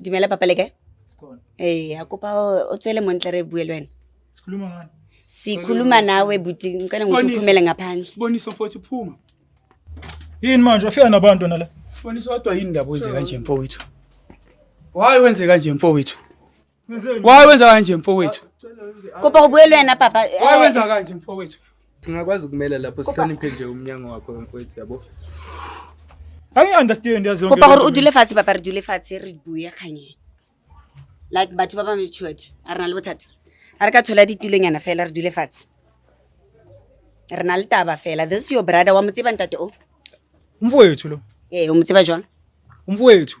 dumela papa le kae ee a kopa o tswele montle re bue le wena sikhuluma nawe buti ngicela ngokuthi uphumele ngaphandle bonisa mfowethu phuma yini manje afika nabantu nala bonisa kodwa yini ndaba wenze kanje mfowethu why wenze kanje mfowethu Why wenza kanje mfowethu? Kuba kubuyelwe na papa. Why wenza eh. kanje mfowethu? Singakwazi ukumela lapho sihloniphe nje umnyango wakho mfowethu yabo. Angi understand yazi yonke. Kuba gore u dule fatshe papa re dule fatshe re buye khanye. Like batho ba ba metshoet. A rena le bothata. A re ka thola ditulonyana fela re dule fatshe. Re na le taba fela. This is your brother wa motseba ntate o. Mfowethu lo. Eh, o motseba jwang? Mfowethu.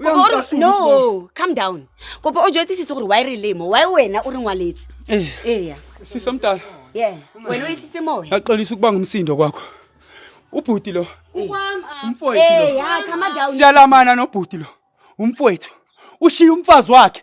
O ya kopa o re- nka no solo, calm down kopa o jetse sese gore wa e re lemo wa wena o re ngwaletse Eh. eya sisi omdala ye wena o etlise moya yaxolisa ukuba ngumsindo kwakho ubhuti lo umfowethu lo eya calma down siyalamana nobhuti lo umfowethu ushiye umfazi wakhe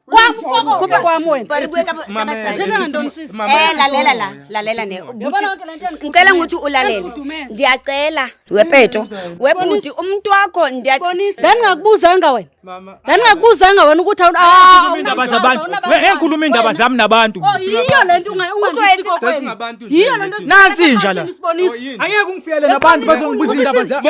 lalela la lalela ne ngicela ukuthi ulalele ndiyacela wepeto webhuti umuntu wakho ndandingakubuzanga wena ndandingakubuzanga wena ukuthi ah, indaba zabantu engikhuluma indaba zami nabantu oh, yiyo le nto yiyo le nto nansi inja la angeke ungifikele nabantu bazongibuza indaba zami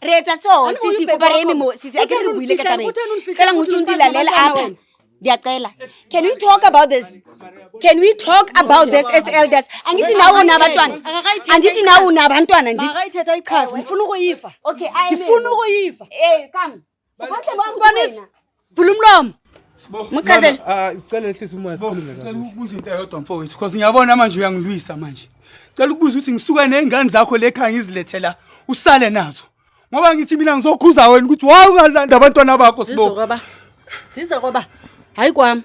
reetsa so sisi kopa re eme mo sisi a ke re buile ka tabeng fela ngotong di lalela apa ndiyacela can we talk about this can we talk about this as elders andithi nawe unabantwana andithi nawe unabantwana ndithi ndifuna ukuyiva ndifuna ukuyiva Ubahle bonke Sibonisa. kuwena. Vula umlomo. Sibo. Muchazele. Ah, Ngicela ehlisa umoya Sibo, sikhulume ngicela kahle. ukubuza into eyodwa mfowethu because ngiyabona manje uyangilwisa manje cela ukubuza ukuthi ngisuke ney'ngane zakho le khaya ngizilethe la usale nazo ngoba ngithi mina ngizokhuza wena ukuthi wawu ungalanda abantwana bakho sibo Sizokwaba. Sizokwaba. hayi kwam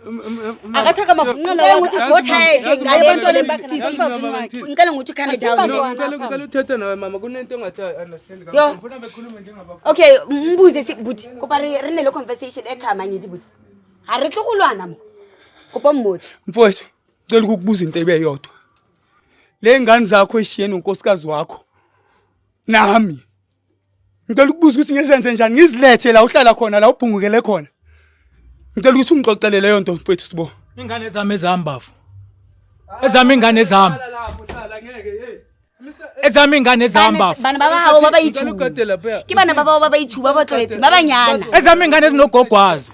akathaka mafunqela ukuthi vothaethe ngale bantwana embakasisingicela ngokuthi ukhane downgicela uthethe nawe mama kunento ongathi andestandfuna bekhulume njengaba okay mbuze si buti kopa re ne le conversation ekhama ngithi buti ha re tlo go lwana mo kopa mmotsi mfowethu ngicela ukukubuza into ebe yodwa le ngane zakho eshiye nonkosikazi wakho nami ngicela ukubuza ukuthi ngizenze njani ngizilethe la uhlala khona la ubhungukele khona ngicela ukuthi ungixoxele leyo nto mfethu sibo ingane zami ezami bafo ezami ingane zami ezami ingane ezami bafo bana ba gago ba ba ithuba ke bana ba bao ba ba ithuba ba tlwaetse ba banyana ezami ingane ezinogogwazo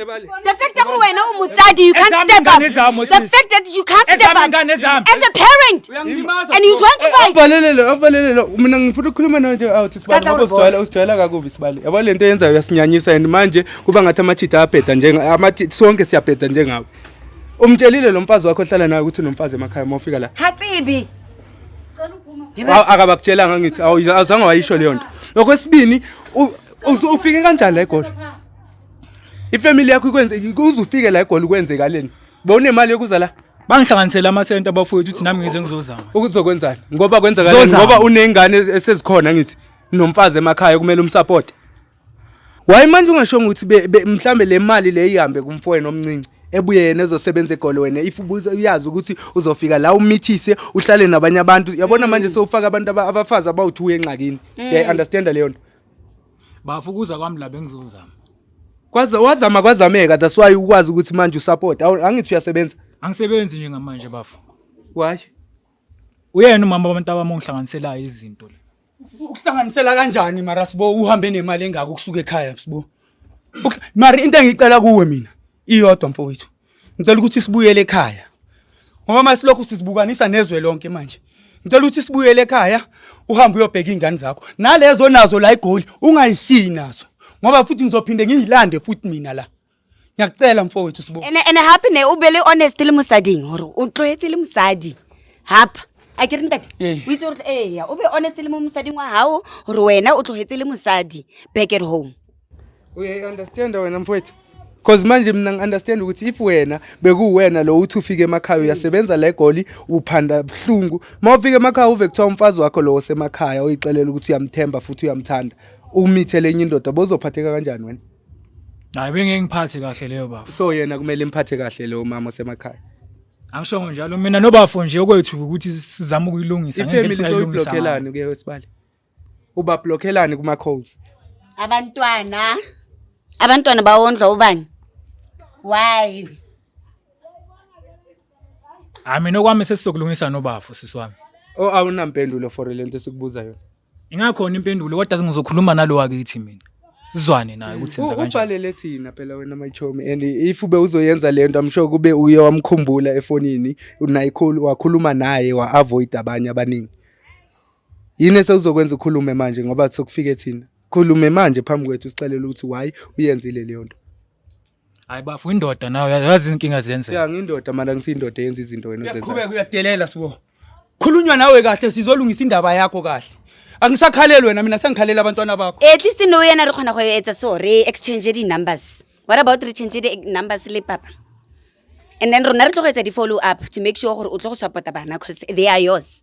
Ebale. The fact that wena umutsadi, you can't Ezami step up. ingane zami, The sis. fact that you can't step Ezami up ingane zami. as a parent Uyangilimaza. and you trying to fight. Avalelele, avalelele. Mina ngifuna ukukhuluma nawe nje out sibali Sikhathi ngoba awulibola. usijwayela usijwayela kakubi sibali. Yabo lento yenzayo uyasinyanyisa and manje kuba ngathi amachitha abheda njenga amachi sonke siyabheda njengawe. Umtshelile lo mfazi wakho ohlala naye ukuthi unomfazi emakhaya uma ufika la. Hatsibi. Aw- Akabakutshelanga ngithi awu- awuzange wayisho leyo nto. Okwesibini u- usu- ufike kanjani la egoli? ifamily yakho ikwenze uzufike la egoli kwenzekaleni bowunemali yokuza la bangihlanganisele amasenta abafowethu ukuthi nami ngize ngizozama ukuzokwenzani ngoba kwenzakaleni Zozama. ngoba uney'ngane esezikhona ngithi nomfazi emakhaya kumele umsapothe waye manje ungashongo ukuthi be- be- mhlambe le mali le ihambe kumfowenu omncinci ebuye yena ezosebenza egoli wena if ubuze uyazi ukuthi uzofika la umithise uhlale nabanye abantu yabona manje sewufaka abantu aba- abafazi abawuthiwu engxakini uyayi-understanda leyo nto bafukuza kwami la bengizozama kwaza wazama kwazameka that's why ukwazi ukuthi manje usupport angithi uyasebenza angisebenzi nje ngamanje bafo why uyena umama wabantu abami ongihlanganiselayo izinto le ukuhlanganisela kanjani mara sibo uhambe nemali engaka ukusuka ekhaya sibo mari into engicela kuwe mina iyodwa mfowethu ngicela ukuthi sibuyele ekhaya ngoba masilokhu sizibukanisa nezwe lonke manje ngicela ukuthi sibuyele ekhaya uhambe uyobheka iy'ngane zakho nalezo nazo la igoli ungayishiyi nazo ngoba futhi ngizophinde ngiyilande futhi mina la ngiyakucela mfowethu sibo ene ene happy ne ubele honest le mosading hore o tlohetse le mosadi hapa a ke re ntate o itse gore ee o be honest le mo mosading wa gago gore wena o tlogetse le mosadi back at home uye understand wena mfowethu Cause manje mina ngiunderstand ukuthi if wena bekuwena lo uthi ufike emakhaya uyasebenza la egoli uphanda buhlungu. Mawufika emakhaya uve kuthiwa umfazi wakho lo osemakhaya oyixelela ukuthi uyamthemba futhi uyamthanda. Umithe lenye indoda bozophatheka kanjani wena? Hayi bengengiphathe kahle leyo bafo. So yena kumele imphathe kahle lo mama osemakhaya. Angishongo njalo mina nobafo nje okwethu ukuthi sizama ukuyilungisa ngendlela esayilungisa. Ifamily soyiblokelani kuye wesibali. ubablokhelani kuma codes abantwana abantwana bawondlwa ubani why hayi mina okwami sesizokulungisa nobafo sisi wami o awunampendulo for le nto esikubuza yona ingakhona impendulo kodwa singizokhuluma nalo wakithi mina sizwane naye ukuthi senza kanjani ubhalele thina phela wena mayichomi and if ube uzoyenza le nto i'm sure kube uye wamkhumbula efonini unayikhulu wakhuluma naye wa-avoid abanye abaningi yini esekuzokwenza ukhulume manje ngoba sekufike thina khulume manje phambi kwethu usixelele ukuthi why uyenzile leyo nto hayi bafo indoda nawe yazi izinkinga zenzeka ya ngindoda mara ngisiyindoda yenza izinto wena uzenza qhubeka uyadelela sibo khulunywa nawe kahle sizolungisa indaba yakho kahle angisakhaleli wena mina sengikhalela abantwana bakho at least no yena re kgona go etsa so re exchange di-numbers what about re change di-numbers le papa and then rona re tlo go etsa di-follow up to make sure gore o tlo go support bana because they are yours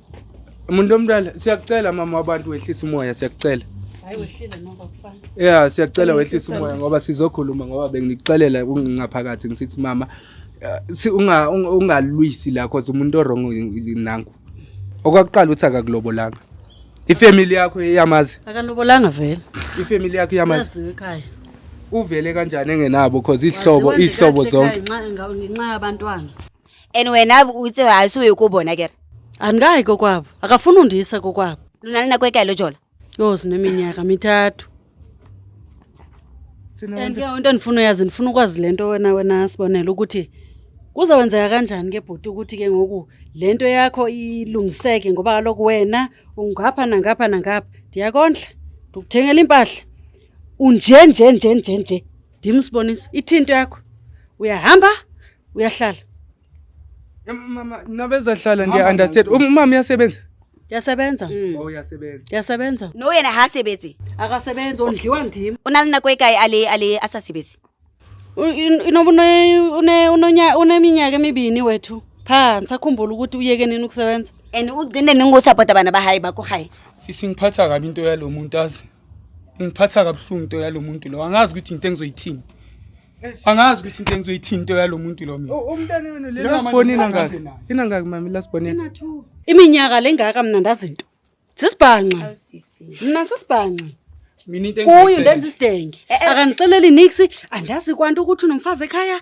Umuntu omdala siyakucela mama wabantu wehlisa umoya siyakucela. Hayi wehlile noko kufana. Yeah siyakucela wehlisa umoya ngoba sizokhuluma ngoba benginixelela ungingaphakathi ngisithi mama eh, unga ungalwisi la cause umuntu orong nangu. Okwakuqala uthi akakulobolanga. Ifamily yakho iyamazi. Akalobolanga vele. Ifamily yakho iyamazi. Yazi ekhaya. Uvele kanjani engenabo cause ihlobo ihlobo zonke. Ngenxa yabantwana. and wena o itse ga se o ye ko bona kere andikayi kokwabo akafuni undiyisa kokwabo lo na le nako e kae lo jola yho sineminyaka mithathu and ke into endifuna uyazi ndifuna ukwazi le nto wena wena sibonele ukuthi kuzawenzeka kanjani ke bhuti ukuthi ke ngoku le nto yakho ilungiseke ngoba kaloku wena ungapha nangapha nangapha ndiyakondla ndikuthengela iimpahla unje nje nje nje nje Dim Siboniso, ithinto yakho. Uyahamba, uyahlala. Mama, nabeza hlala ngiya understand. Umama uyasebenza. Yasebenza. Mm. Oh yasebenza. Yasebenza. No yena ha sebetsi. Akasebenzi ondliwa ndim. Unali nako ekae ale ale asasebetsi. Inobune une unonya uneminyaka emibini wethu. Phansi akhumbula ukuthi uyeke nini ukusebenza. And ugcine ningu support abana bahayi bakho hayi. Sisi ngiphatha kabi into yalomuntu azi. ingiphatha kabuhlungu into yalo muntu lo angazi ukuthi into engizoyithini angazi ukuthi into engizoyithini into yalo muntu lo mina umntana wenu le lasibonina ngaka ina ngaka mama lasibonina iminyaka lengaka mina ndazinto sisibhanqa mina sisibhanqa mina into kuyo ndenza isidenge eh, eh. akanixeleli nix andazi kwanto ukuthi unomfazi ekhaya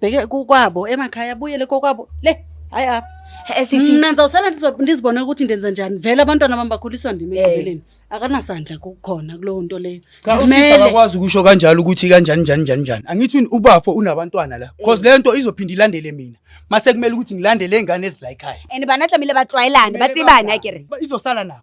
bheke kokwabo emakhaya abuyele kokwabo le hayi apha Eh, sisi mna ndizawusala ndizo- ndizibone ukuthi ndenza njani vele abantwana bam bakhuliswa ndim Eh. ekugqibeleni akanasandla kukhona kulowo nto leyo Cha usisi Zimele. akakwazi ukusho kanjalo ukuthi kanjani njani njani njani. Angithi un- ubafo unabantwana la. Cause le nto izophinda ilandele mina. Mase kumele ukuthi ngilandele ingane ezila ekhaya. and banatlamile batlwayelane batsibane akere Ba- Izosala nabo.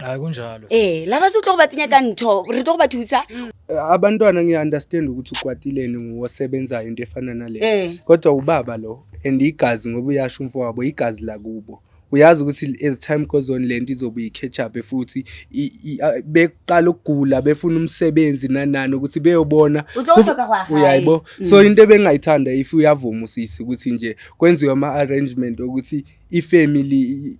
hayi kunjalo Eh, laba se o tlo go ba tsenya ka ntho, re tlo go ba thusa. abantwana ngiya-understand ukuthi ukwatileni ngosebenzayo into efana nale Eh. kodwa ubaba lo and igazi ngoba uyasho umfo wabo igazi lakubo uyazi ukuthi as time goes on le nto izobe i-catch up futhi i- i- a- beqala ukugula befuna umsebenzi nanani ukuthi beyobona O tlo kub- hloka go ya gae. uyayibo so into ebengingayithanda if uyavuma usisi ukuthi nje kwenziwe ama-arrangement okuthi ifamily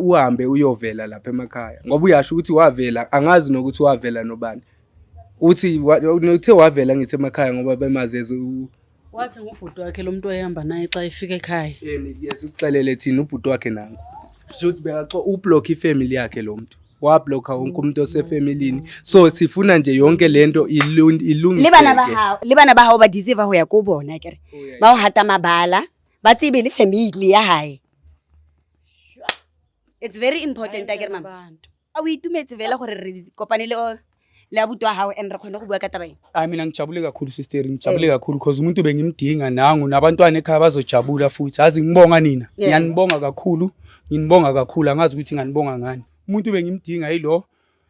uhambe uyovela lapha emakhaya ngoba uyasho ukuthi wavela angazi nokuthi wavela nobani uthi uthe wavela ngithi emakhaya ngoba bemazeze wathi ngubhuti wakhe lo muntu oyehamba naye xa efika ekhaya yes uxelele thina ubhuti wakhe nangu should bekaxo ublock ifamily yakhe lo muntu wablokha wonke umuntu osefamilini so sifuna nje yonke lento ilungiseke liba nabahawu liba nabahawu ba deserve ho ya kubona kere ba ho hata mabala ba tsebe le family ya hae it's very important a kere mama Abantu. a o itumetse fela gore re kopane le o- le abuti wa gago and re kgone go bua ka taba eng hayi mina ngijabule kakhulu sister ngijabule kakhulu because umuntu bengimdinga nangu nabantwana ekhaya bazojabula futhi azi ngibonga nina Yeah. ngiyanibonga kakhulu nginibonga kakhulu angazi ukuthi nganibonga ngani umuntu bengimdinga yilo